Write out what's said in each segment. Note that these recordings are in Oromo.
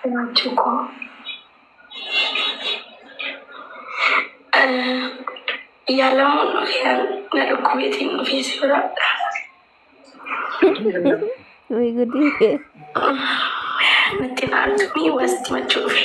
Jiraachuu koo yaalamuun dhufee na dhukkubeetiin dhufee si bira Way gudii. natti naaltumii wasti machuu dhufe.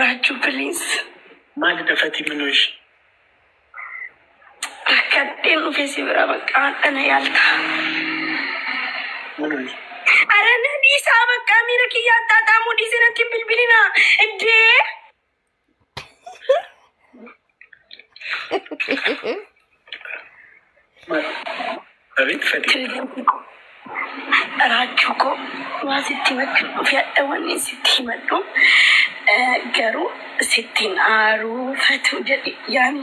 Raajuu please maali dafati minoo ishi. Rakkadheen dhufee si bira bakka hadha na yaalta. Minoo ishi. Ara na dhiisaa bakka miira kiyya addaa taamuu dhiisee natti hin bilbilinaa. Iddee. Abeet fedhii. Raachuu koo waan sitti himachuun dhufe hadha wanni sitti himadhu garuu sittiin aaruu fatuu jedhe yaani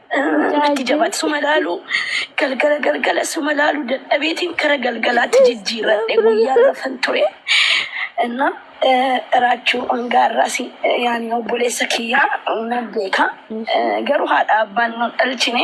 Natti jabaate suma laalu galgala galgala suma laalu dadhabeetiin kara galgalaatti jijjiirradhe guyyaa gafan ture. Inna raachuu hangaa irraas yaani obboleessa kiyyaa nan beeka. Garuu haadha abbaan nu dhalchine.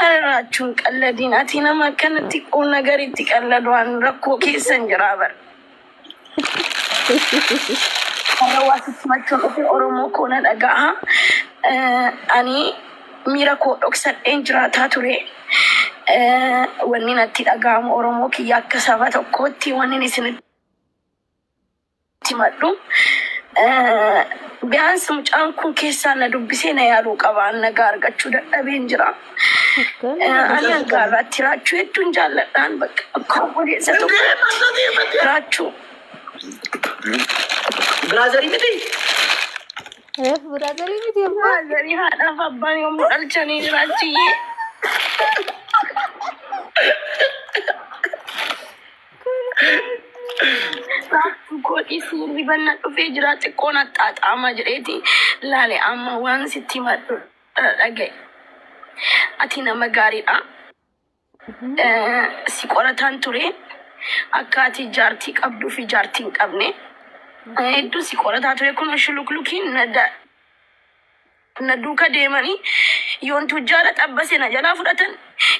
Arraachuun qalladiin ati nama akkanatti quun nagaritti qalladu waan rakkoo keessan jiraa bar. Warra waa sissimachuun dhufe Oromoo koo na dhaga'a. Eh, Ani miira koo dhoksadheen jiraataa ture. Eh, Wanni natti dhaga'amu Oromoo kiyya akka saba tokkootti wanni isin simadhu. Biyans mucaan kun keessaa na dubbisee na yaaluu qaba. An nagaa argachuu dadhabeen jira. Ani hanga har'aatti raachuu hedduun jaalladhaan bakka akka obboleessa tokkotti raachuu. Biraazarii miti. Reef biraazarii miti abbaa. Baazanii haadhaaf abbaan yommuu dhalchanii jiraachiyyee. Raabdu godhi siirri banna dhufee jira xiqqoon axxaaxaama jedheeti laale amma waan sitti himadhu dhaga'e. Ati nama gaariidha. Eh, Si qorataan ture akka ati jaartii qabduu fi jaartii hin qabne. Eh, Hedduu si qorataa ture kun shuluklukiin na da- Na duuka deemanii yoon tujjaara xabbase na jalaa fudhatan,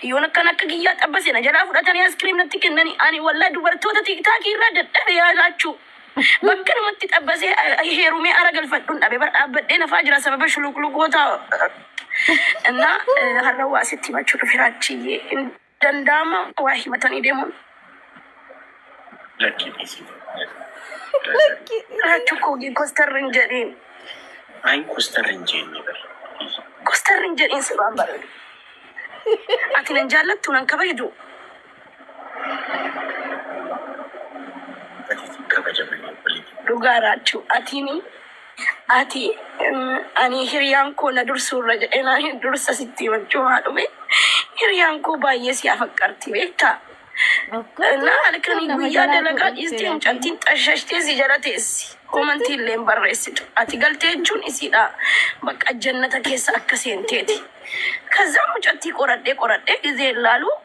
yoon akkan akka kiyyaa xabbase na jalaa fudhatanii askiriim natti kennanii ani wallahi dubartoota tiiktaakii irraa dadhabe yaa laachuu. Bakka namatti xabbasee eh, heerumee ara galfadhun dhabe bar dhaabbadhee nafaa jira sababa shuluqluqoota eh, እና eh, har'a waa sitti himachuu dhufe raachiyyee. danda'ama waa himatanii deemuun. Lakkii dhiisii. Lakkii dhiisii. Raachuu koo gii kostarri hin jedhiin. Ayi kostarri hin jeenye bari. Kostarri hin jedhiin si waan bareedu. Ati nan jaallattu nan kabajdu. Ati kabajamanii waliin. Dhugaa raachuu atiini Ati ani hiriyaan koo na dursuu irra jedhee naa hin dursa sitti himachuu maa dhufe hiriyaan koo baay'ee si afaqqarti beektaa እና halkanii guyyaa dalagaa dhiistee mucattiin xashashtee si jala teessi komantii illee hin barreessitu ati galtee jechuun isiidha bakka jannata keessa akka seenteeti kazzaa mucattii qoradhee qoradhee gizee laaluu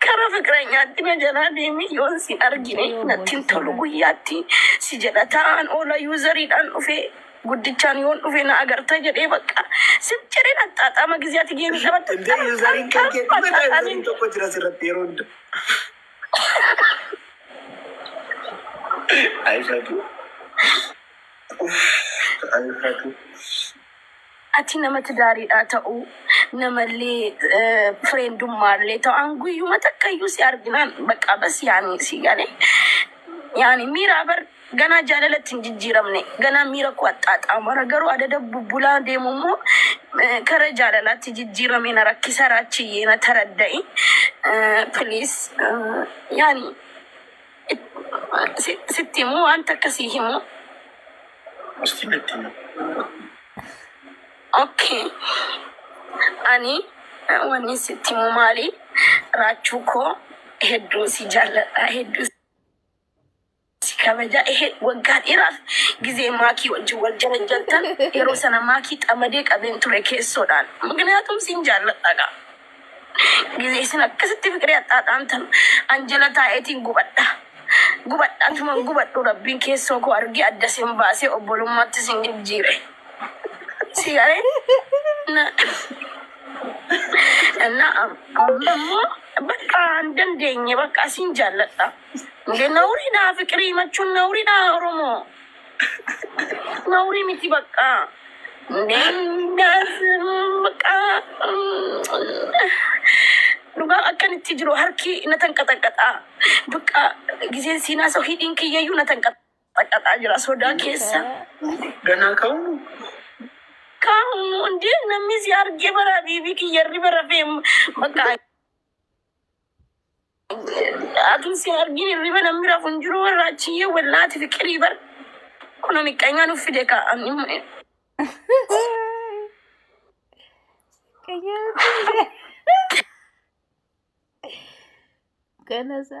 Kara fiqranyaatti na jalaa deemi yoon si argine natti hin tolu guyyaatti si jedha taa'an oola yuuzariidhaan dhufe guddichaan yoon dhufe na agarta jedhee bakka sif jedhee naxxaaxaama giziyaati geemi qabatti Intee yuuzariin kan kee dhuma ta'a yuuzariin tokko jira asirratti yeroo hunda. Ayi fatu. Uff ayi fatu. Ati nama tidaariidhaa ta'uu, namallee fireendummaallee ta'u an guyyuma takkayyuu si arginaan baqaa bas yaanii si gane yaani miiraa bar ganaa jaalalatti hin jijjiiramne ganaa miira koo axxaaxaamara garuu adada bubbulaa deemu immoo eh, kara jaalalaatti jijjiiramee na rakkisa raachiyyee na taradda'i please yaani Sitti himuu waan takka sii himuu. Ustii natti himi. Okay. Ani wanni sitti himuu maali raachuu koo hedduu si jaalladha hedduu si kabaja ehe waggaa dheeraaf gizee maakii wajjin wal jarajjartan yeroo sana maakii xamadee qabeen ture keessoodhaan mukniyaatum siin jaalladhaga. Gizee isin akkasitti fiqiree axxaaxaamtan an jala taa'eetiin gubadha. Gubadha antuman gubadhu rabbiin keessoo koo argee adda isin baasee obbolummaatti isin jijjiire. Si garee na na ammoo bakka hin dandeenye bakka asiin jaalladha. Nawuriidhaa fiqirii machuun nawuriidhaa Oromoo. Nauri miti bakka. Nendas bakka. Dhugaa akkan itti jiru harki na tanqaxaqaxaa. Bakka giseen siinaa soo hidhiin kiyyayyuu na tanqaxaqaxaa jira sodaa keessa. Ganaa ka'uu. Kaamu hundee namni si argee bara biibii kiyyarri bara feem bakka. Atuu si argin hirriba namni rafu hin jiru warra achiyyee wallaati fiqirii bar kuna miqqanyaa nuuf fide ka an imma Ganasa.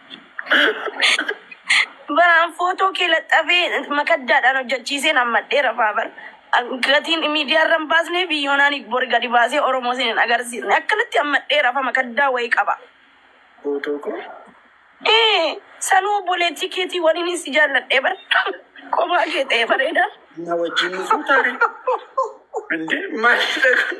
Baraan footoo kee laxxafee makaddaadhaan hojjechiiseen hammadhee rafaa bar. Gatiin miidiyaa irra hin baasnee fi yoonaan bor gadi baasee Oromoo sin hin agarsiisne. Akkanatti hammadhee rafa makaddaa wayii qaba. Footoo koo? Ee, sanuu obboleettii keetii waliin si jaalladhee bar. Kophaa kee ta'ee bareeda. Na wajjin nu fuutaare. Indee maalidha kun?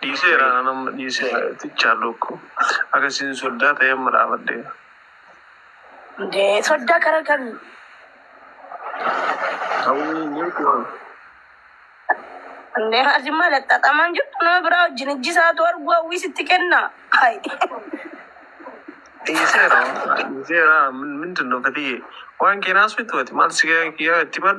Dhiiseera anan amma dhiiseera tichaa luukku akka isin soddaa ta'e amma dhaabadhee. Nde sodda kara kami. Hawwii ni kuwan. Nde ati maal xaxamaan jirtu nama biraa wajjin ijji isaatu arguu hawwii sitti kenna. Hay. Dhiiseera dhiiseera min mindin no fatiye waan keenaas mitu ati maal si kiyyaa itti mal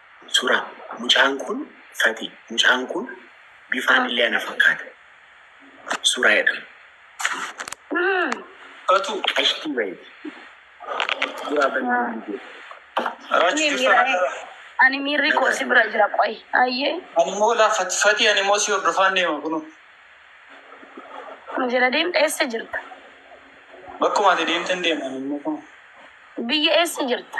Suraa. Mucaan kun fati. Mucaan kun bifaan illee ana fakkaata. Suraa jedhama. Fatuu qashtii wayiiti. Suraa banii banii jee. Raachu Ani jirta miira nagaa. ani miirri koo si bira jira qoy ayyee Ani immoo laa fati fati ani immoo si hordofaan deema kunoo. nu jala deemta eessa jirta Bakkuma ati deemten deema ani immoo kunoo. biyya eessa jirta